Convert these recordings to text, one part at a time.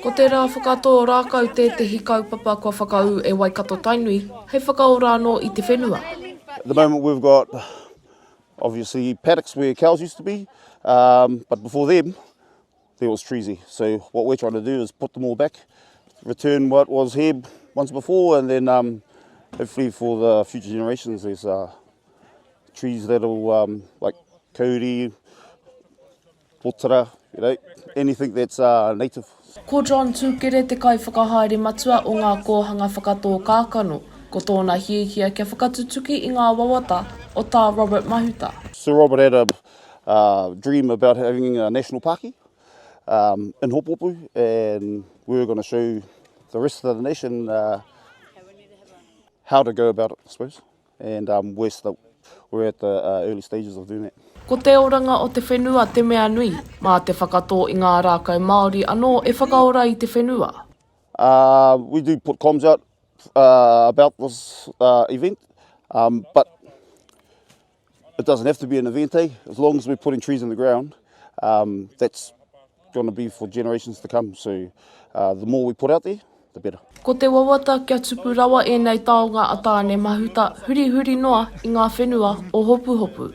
Ko te rā whakatō rākau tētehi kaupapa kua whakaū e Waikato-Tainui hei whakaora anō i te whenua. At the moment we've got obviously paddocks where cows used to be, but before them, There was treesy. So what we're trying to do is put them all back, return what was here once before, and then um, hopefully for the future generations, there's uh, trees that'll um, like kauri, potara, you know, anything that's uh, native. Ko John Tukere te kaiwhakahaere matua o ngā kōhanga whakatō kākano, ko tōna hiahia kia whakatutuki i ngā wawata o Tā Robert Mahuta. Sir Robert had a uh, dream about having a national pāki um, in Hopopu and we were going to show the rest of the nation uh, how to go about it, I suppose. And um, we're, still, we're at the uh, early stages of doing that. Ko te oranga o te whenua te mea nui, mā te whakatō i ngā rākau Māori anō e whakaora i te whenua. Uh, we do put comms out uh, about this uh, event, um, but It doesn't have to be an event, eh? As long as we're putting trees in the ground, um, that's going to be for generations to come. So uh, the more we put out there, the better. Ko te wawata kia tupu rawa ēnei taonga a Tāne Mahuta hurihuri noa i ngā whenua o Hopuhopu.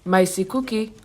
Macy Kuki,